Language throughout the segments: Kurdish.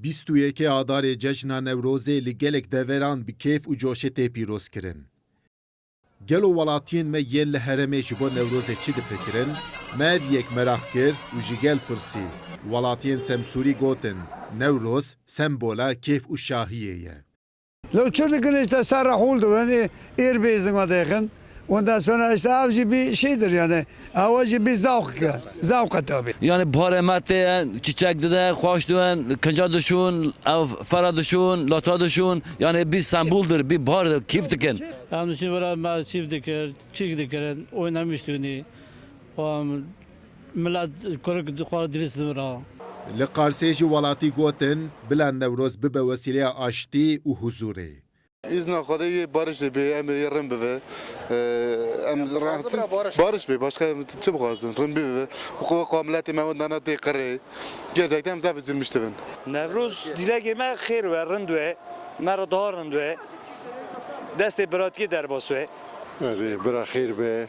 Bîst û yekê Adarê Cejna Newrozê li gelek deveran bi kêf û coşê tê pîrozkirin. Gelo welatiyên me yên li herêmê ji bo Newrozê çi difikirin? Me ev yek meraq kir û ji gel pirsî. Welatiyên Semsûrî gotin, Newroz sembola kêf û şahiyê ye. Lê çi dikin îşte ser re hol dibin ê êr bê zinga dêxin wenda sona îşte ev jî bî şêdir yanê ewa jî bî zewq e zewq e tabî. Yanê barê me tê ye çîçek dide xweş dibin kinca dişon ew fera dişon lata dişon yanê bî sembol dir bî bar dir kîf dikin. Em diçin vera me çîf dikir çîk dikirin oy nemiştonî xwe em. Mila kurk dixwara dirês li vir a. Li Qarsê ji welatî gotin, bila Newroz bibe wesîleya aştî û huzûrê. Îzna Xwedê yê bariş dê bê em ê yê rin bibe. Em raxizin bariş bê başka em çi bixwazin rin bibe. Xwe wek wa miletê me wenda na tê qirê. Gercekte em zaf zilmîş dibin. Newroz dîlekê me xêr we rind we me re daha rind we destê biratikê derbas we. Erê bira xêr be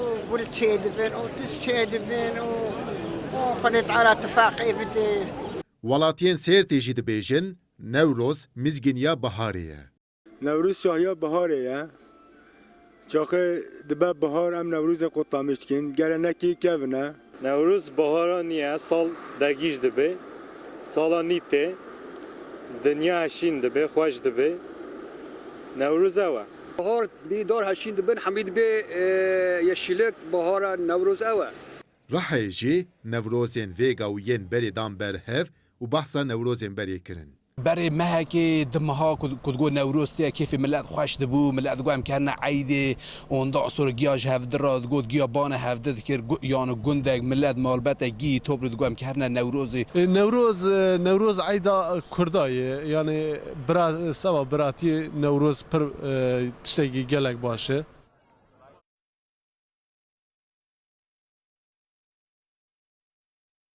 û gul çêdibin û tişt çêdibin û Xwedê te ara tifaqê bidê. Welatiyên Sêrtê jî dibêjin Newroz mizgîniya biharê ye. Newroz şahiya biharê ye. Çaxê dibe bihar em Newrozê Qutlamî dikin. Gele nekî kevin e. Newroz bahara nî ye, sal dergîj dibe, sala nî tê, dinya heşîn dibe, xweş dibe. Newroz ew e. Bahar nî dar heşîn dibin, hemî dibe yeşîlik, bahara Newroz ew e. Rihayê jî Newrozên vêga û yên berê dan ber hev û behsa Newrozên berê kirin. Berê mehekê di meha ku digot Newroz tê kêfê milet xweş dibû. Milet digot em kerine eydê. Onda Asor giya ji hevdi re digot giya bane hevdi dikir yani gundek, milet, malbetek, gî, topri digot em kerine Newrozê. Newroz Newroz eyda kurda ye yani bira seba biratiyê Newroz pir tiştekî gelek baş e.